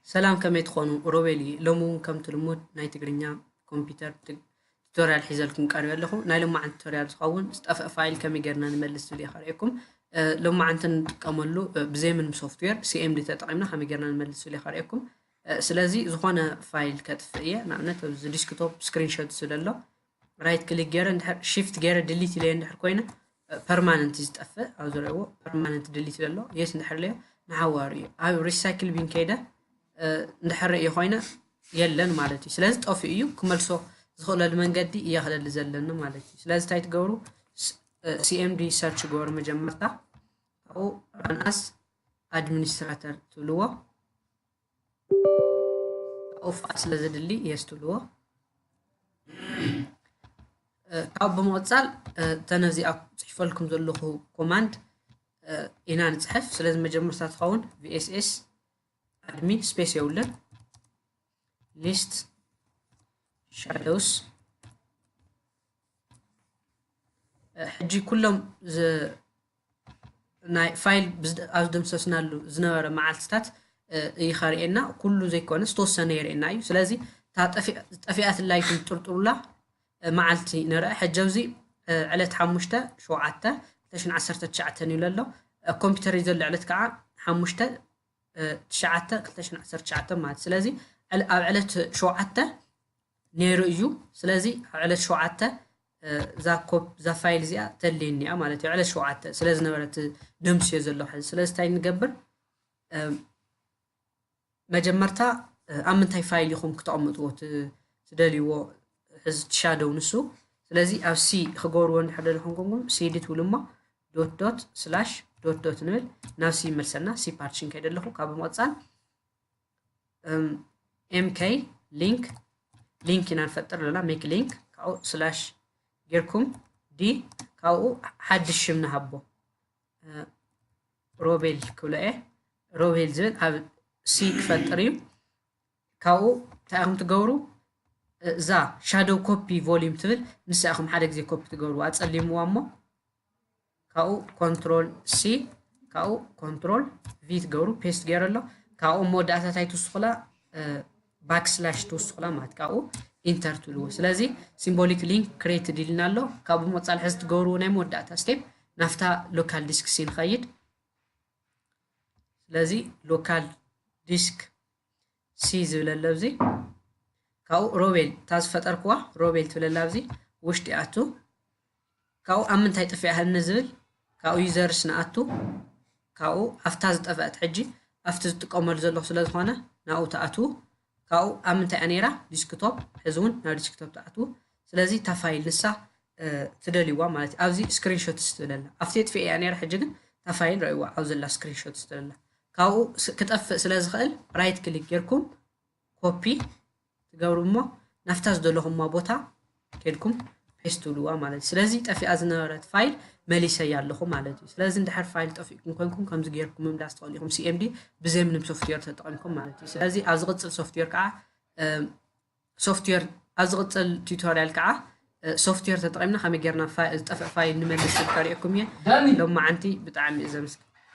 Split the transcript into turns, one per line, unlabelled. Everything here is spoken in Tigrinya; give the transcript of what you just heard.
ሰላም ከመይ ትኾኑ ሮቤል እየ ሎሚ እውን ከምቲ ልሙድ ናይ ትግርኛ ኮምፒተር ቱቶሪያል ሒዘልኩም ቀሪበ ኣለኹ ናይ ሎማዓንቲ ቱቶሪያል ዝኸውን ዝጠፍአ ፋይል ከመይ ጌርና ንመልስ ዝብል እየ ከርእየኩም ሎማዓንቲ ንጥቀመሉ ብዘይምንም ሶፍትዌር ሲኤምዲ ተጠቒምና ከመይ ጌርና ንመልስ ዝብል እየ ከርእየኩም ስለዚ ዝኾነ ፋይል ከጥፍእ እየ ንኣብነት ኣብዚ ዲስክቶፕ ስክሪንሾት ስለሎ ራይት ክሊክ ገይረ እንድሕር ሽፍት ገይረ ድሊት ኢለዮ እንድሕር ኮይነ ፐርማነንት እዩ ዝጠፍእ ኣብ ዝረእዎ ፐርማነንት ድሊት ዘሎ የስ እንድሕር ለዮ ንሓዋሩ እዩ ኣብ ሪሳይክል ቢን ከይደ እንድሕር እየ ኮይነ የለን ማለት እዩ ስለዚ ጠፍኡ እዩ ክመልሶ ዝኽእለሉ መንገዲ እየ ክደሊ ዘለኒ ማለት እዩ ስለዚ እንታይ ትገብሩ ሲኤምዲ ሰርች ገበሩ መጀመርታ ካብኡ ራንኣስ ኣድሚኒስትራተር ትብልዎ ኦፋ ስለዘድሊ የስትልዎ ካብ ብምቕፃል እተን እዚኣ ፅሒፈልኩም ዘለኹ ኮማንድ ኢና ንፅሕፍ ስለዚ መጀመርታ ትኸውን ቪኤስኤስ ኣድሚ ስፔስ የብለን ሊስት ሻዶውስ ሕጂ ኩሎም ናይ ፋይል ኣብ ዝደምሰስናሉ ዝነበረ መዓልትታት እዩ ከርእየና ኩሉ ዘይኮነ ዝተወሰነ የርእየና እዩ ስለዚ እታ ጠፊኣትላ ይኹን ጥርጥሩላ መዓልቲ ንርአ ሕጂ ኣብዚ ዕለት ሓሙሽተ ሸውዓተ ክልተ ሽን ዓሰርተ ትሽዓተን እዩ ለሎ ኮምፒውተር እዩ ዘሎ ዕለት ከዓ ሓሙሽተ ትሽዓተ ክልተ ሽሕን ዓሰርተ ትሽዓተን ማለት እዩ። ስለዚ ዕለ- ኣብ ዕለት ሸውዓተ ነይሩ እዩ። ስለዚ ኣብ ዕለት ሸውዓተ እ፣ እዛ ኮብ እዛ ፋይል እዚኣ ተድልየኒ እያ ማለት እዩ። ዕለት ሸውዓተ ስለ ዝነበረት ደምስዮ ዘለኹ ሕዚ። ስለዚ እንታይ ንገብር እ፣ መጀመርታ እ፣ ኣብ ምንታይ ፋይል ኢኹም ክተቕምጥዎ ት- ትደልይዎ ሕዚ ትሻደው ንሱ ስለዚ ኣብ ሲ ክገብርዎ እንድሕር ደለኹም ኮንኩም ሲ ዲ ትብሉ እሞ ዶት ዶት ስላሽ ዶት ዶት ንብል ናብ ሲ ይመልሰና ሲ ፓርቲሽን ከይደ ኣለኹ ካብ ምቕፃል ኤምከይ ሊንክ ሊንክ ኢና ንፈጥር ኣለና ሜክ ሊንክ ካብኡ ስላሽ ጌርኩም ዲ ካብኡ ሓድሽ ሽም ንሃቦ ሮቤል ክብሎ እየ ሮቤል ዝብል ኣብ ሲ ክፈጥር እዩ ካብኡ እንታይ ኢኹም ትገብሩ እዛ ሻዶው ኮፒ ቮሊዩም ትብል ንሳ ኢኹም ሓደ ግዜ ኮፒ ትገብርዋ ኣጸሊምዋ እሞ ካብኡ ኮንትሮል ሲ ካብኡ ኮንትሮል ቪ ትገብሩ ፔስት ገይረ ኣሎ ካብኡ መወዳእታ እንታይ ትውስኹላ ባክስላሽ ትውስኹላ ማለት ካብኡ ኢንተር ትብልዎ ስለዚ ሲምቦሊክ ሊንክ ክሬት ድልና ኣሎ ካብኡ መፃል ሕዚ ትገብርዎ ናይ መወዳእታ ስቴፕ ናፍታ ሎካል ዲስክ ሲ ንኸይድ ስለዚ ሎካል ዲስክ ሲ ዝብለለ ኣብዚ ካብኡ ሮቤል እታ ዝፈጠርክዋ ሮቤል ትብለላ ኣብዚ ውሽጢ ኣቱ ካብኡ ኣብ ምንታይ ጥፊኣ ህኒ ዝብል ካብኡ ዩዘርስ ንኣቱ ካብኡ ኣብታ ዝጠፈአት ሕጂ ኣብቲ ዝጥቀመሉ ዘለኹ ስለ ዝኾነ ናብኡ ትኣትዉ ካብኡ ኣብ ምንታይ እያ ነይራ ዲስክቶፕ ሕዚ እውን ናብ ዲስክቶፕ ትኣትዉ ስለዚ እታ ፋይል ንሳ ትደልይዋ ማለት እዩ ኣብዚ ስክሪንሾትስ ትብለላ ኣብቲ የጥፍኤ እያ ነይራ ሕጂ ግን እታ ፋይል ረእይዋ ኣብ ዘላ ስክሪንሾትስ ትብለላ ካብኡ ክጠፍእ ስለ ዝኽእል ራይት ክሊክ ጌርኩም ኮፒ ትገብሩ እሞ ናፍታ ዝደለኹማ ቦታ ኬድኩም ፔስት ትብልዋ ማለት እዩ ስለዚ ጠፊኣ ዝነበረት ፋይል መሊሰያ ኣለኹ ማለት እዩ ስለዚ እንድሕር ፋይል ጠፊእኩም ኮንኩም ከምዚ ጌርኩም ምምላስ ትኽእሉ ኢኹም ሲኤምዲ ብዘምንም ሶፍትዌር ተጠቒምኩም ማለት እዩ ስለዚ ኣብ ዝቕፅል ሶፍትዌር ከዓ ሶፍትዌር ኣብ ዝቕፅል ቱቶሪያል ከዓ ሶፍትዌር ተጠቒምና ከመይ ጌርና ዝጠፍእ ፋይል ንመልስ ዝከሪኤኩም እየ ሎማዓንቲ ብጣዕሚ እዩ ዘምስግ